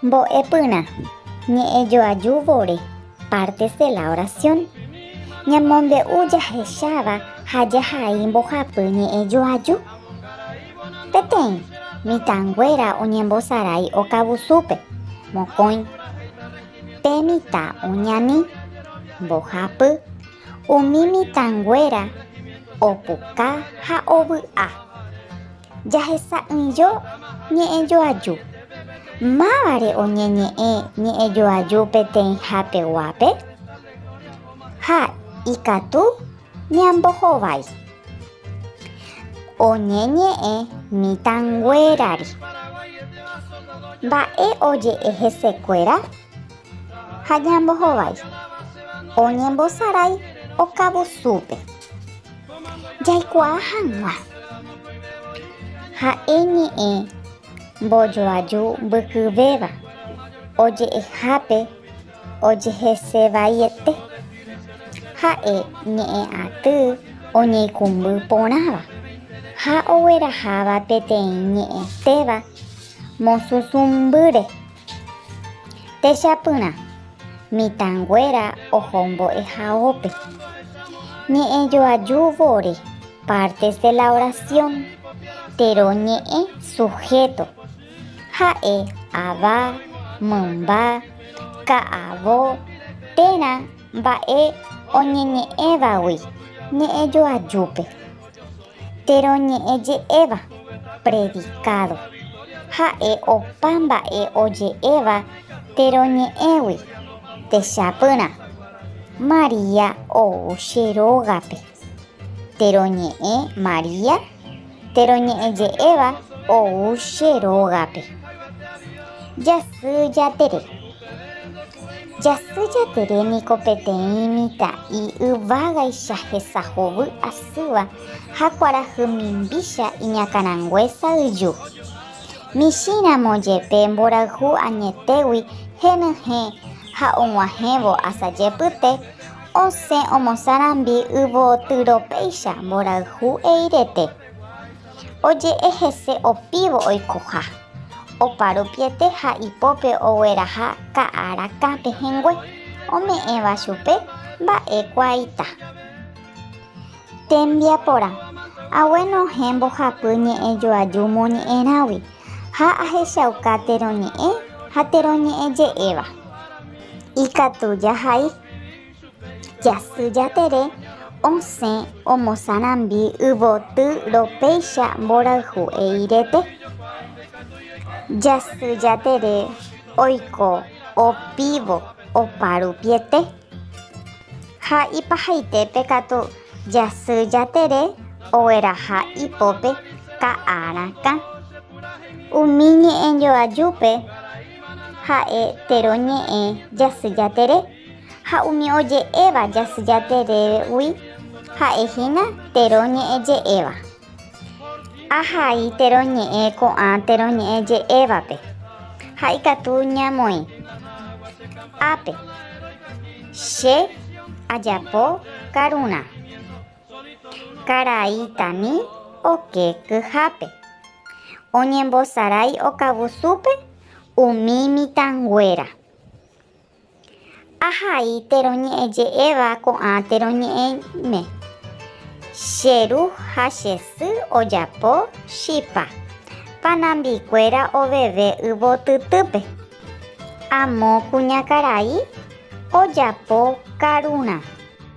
Mbo'epyrã, ñe'ẽjoaju vore, partes de la oración. Ñamombe'u jahecháva ha jahai mbohapy ñe'ẽjoaju. Peteĩ, mitãnguéra oñembosarai okavusúpe, mokõi. Pe mitã oñani, mbohapy, umi mitãnguéra opuka ha ovy'a. Jahesa'ỹijo ñe'ẽjoaju. Mávare oñeñe'ẽ ñe'ẽjoaju peteĩha peguápe? Ha ikatu ñambohovái. Oñeñe'ẽ mitãnguérare. Mba'e oje'e hesekuéra? ha ñambohovái, oñembosarái okavusúpe. Jaikuaa hag̃ua ha'e ñe'ẽ mbojoaju mbykyvéva oje'ehápe ojehesevaiete, ha'e ñe'ẽ aty oñeikũmby porãva ha ogueraháva peteĩ ñe'ẽtéva mosũsũmbýre. Techapyrã, mitãnguéra oho mbo'ehaópe. Ñe'ẽjoaju vore, partes de la oración, térõ ñe'ẽ, sujeto, ha'e ava, mymba, ka'avo, térã mba'e oñeñe'ẽvagui ñe'ẽjoajúpe. Térõ ñe'ẽ je'éva, predikádo. Ha'e opa mba'e oje'éva térõ ñe'ẽgui, techapyrã. María ou che rógape. Térõ ñe'ẽ María, térõ ñe'ẽ je'éva ou che rógape. Jasy Jatere. Jasy jatere niko peteĩ mitã'i yvágaicha hesa hovy asýva ha kuarahy mimbícha iñakãrangue sa'yju. Michĩramo jepe mborayhu añetégui henyhẽ ha og̃uahẽvo asa jepyte, osẽ omosãrambi yvotyropéicha mborayhu eirete. Oje'e hese opívo oikoha, opa rupiete ha ipópe ogueraha ka'a rakã pehẽngue, ome'ẽva chupe mba'e kuaaita. Tembiaporã, agueno ohẽ mbohapy ñe'ẽ joaju moñe'ẽrãgui ha ahechauka térõ ñe'ẽ ha térõ ñe'ẽ je'éva. Ikatu jahai. Jasy Jatere osẽ omosarambi yvoty ropéicha mborayhu eirete. Jasy Jatere oiko opívo oparupiete. Ha ipahaitépe katu Jasy Jatere ogueraha ipópe ka'a rakã. Umi ñe'ẽjoajúpe ha'e tero ñe'ẽ Jasy Jatere. Ha umi oje'éva jasy jaterégui ha'e hína térõ ñe'ẽ je'éva. Ahai térõ ñe'ẽ ko'ã térõ ñe'ẽ je'évape, ha ikatu ñamoĩ. Ápe, Che ajapo karurã. Karai tani oke kyhápe. Oñembosarái okavusúpe umi mitãnguéra. Ahai térõ ñe'ẽ je'éva ko'ã térõ ñe'ẽme. Che ru ha che sy ojapo chipa. Panambi kuéra oveve yvotytýpe. Amo kuñakarai ojapo karurã.